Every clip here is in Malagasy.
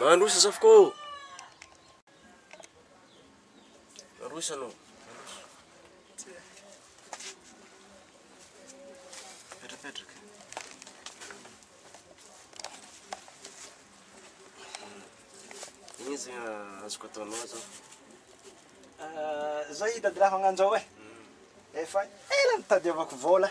Mandroso Zafiko ô! Mandroso anao, mandroso. Mipetrapetraka. Ino zay azoko ataonao zao? Zao hitady raha magnanzao e, efa ela nitadiavako vola.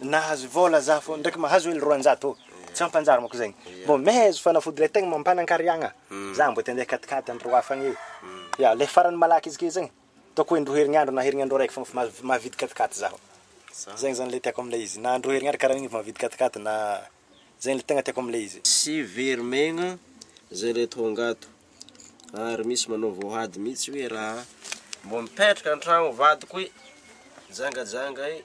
Nahazo vola za fô ndraiky mahazo hely roanjato ô! Tsy ampanjary manko zegny. Mbô mehezo fanafody le tegna mampanankariagna. Za mbô te andeha akatikady andro roa hafa agny. Ya, le farany malaky izy ke zegny ataoko hoe indroa herignandro na herignandro araiky fô fa mahavidy katikaty zaho. Zegny zany le tiako amle izy. Na indroa herignandro karaha igny efa mahavidy katikaty na zegny le tegna tiako amle izy. Tsy very megna zay le tonga ato ary misy manao voahady mitsy hoe raha mbô mipetraka antragno vadiko e! Jangajanga e!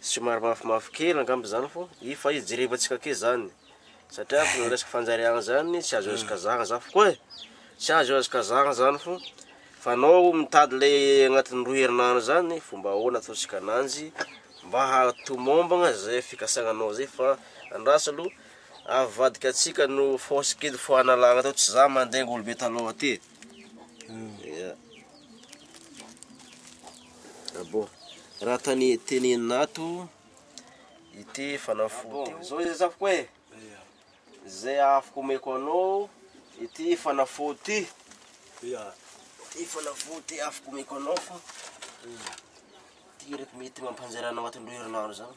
Somary mafimafy kely angamba zany fô i fa izy jerevantsika ake zany satria fô le resaka fanjariagna zany tsy azo hazokazahana zany foko e! tsy azo hazokazahana zany fô fa anao mitady le agnatin'ny roa herinandro zany fomba ahoana ataontsika ananjy mba hahatomombagna zay fikasagnanao zay fa andraso aloha avadika antsika no force kely fo hanalana atao tsy za mandainga olo be talon aty e! Yeah. Ah bon. Raha tany tenenina ato ity fanafody ity. Zao izay zafiko e. Izay afaka omeko anao ity fanafody ity. Yeah. Ity fanafody ity afaka omeko anao fa ity reto mety mampanjary anao anatin'ny roa herinandro zany.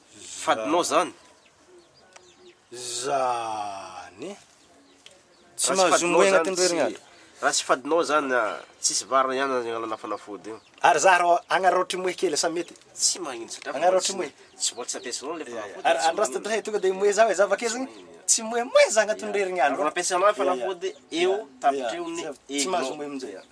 Fadinao zany? Zany? Tsy mahazo moy agnatin'ny roa herinandro? Raha tsy fadinao zany a, tsisy vary ihany aza agnalana fanafody io. Ary za rô agnaraotry moe kely sa mety? Tsy magnino satria Agnaraotry moe? Tsy mbola tsy nampiasainao le fanafody. Ary andro last dray tonga de moe za hoe za avake zany tsy moe moe za agnatin'ny roa herinandro. Raha nampiasainao le fanafody eo tapitry eo ny hevignao. Tsy mahazo moe amin'izay aho.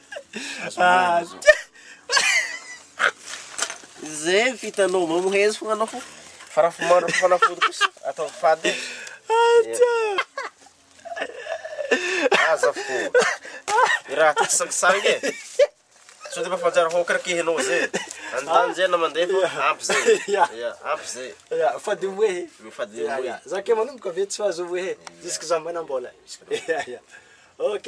Zay ny fitanao mba mohezo fo anao fo fa raha fo mandro fanafody kosa atao fady aza fo i raha ty sangisangy e sao de mba fanjary hokra kehinao zay anotany zay na mandeha fo ampy zay Ya. ya ampy zay Ya, fady moe. ny fady Ya, moe ya. Za ke manomboka ve tsy fahazo moe. Jusque za manam-bola. Ya, ya. Ok.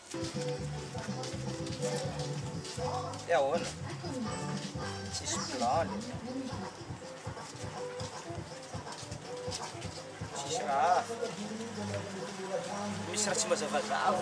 Dia ahoana? Tsisy plan le. Tsisy raha. Misy raha tsy mazavazava.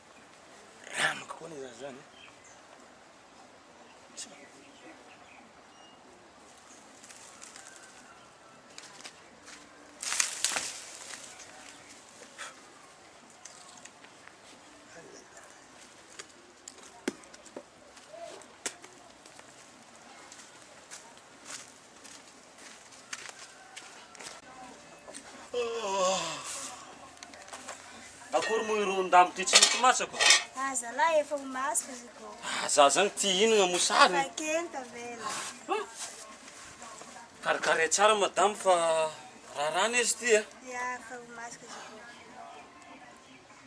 Rano koa anie za zany e. Akory moa ireo ondambo ity tsy mety matsaka ô? Ah, zalahy efa ho masaka izy ko. Ah, za zany ty inona moa sary? Efa kely tavela. Karikare tsara madame fa rarana izy ty eh. Ya, efa ho masaka izy ko.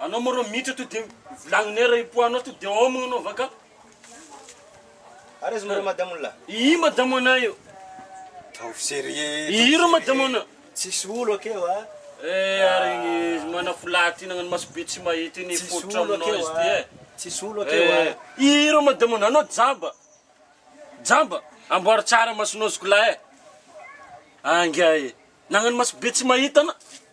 Anao moa rô miditra to de volagnone raha hipoaha anao to de hômagna anao vaka. Ary zomaro madamo la. Ii madamo anay io. Taovy serieux. Ii rô madamo anay. Tsisy olo akeo a. Eh ary izy manafolahy ty nagnano maso be tsy mahita iny fototra aminao izy ty eh. Tsisy olo akeo a. Ii rô madamo anay. Anao jamba. Jamba. Amboary tsara masonao zokolahy eh. Angiahy. Nagnano maso be tsy mahita anao.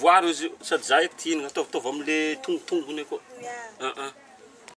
Voaro izy io, sady za eky tia hinana, ataovy ataovy amle tongotongony akao.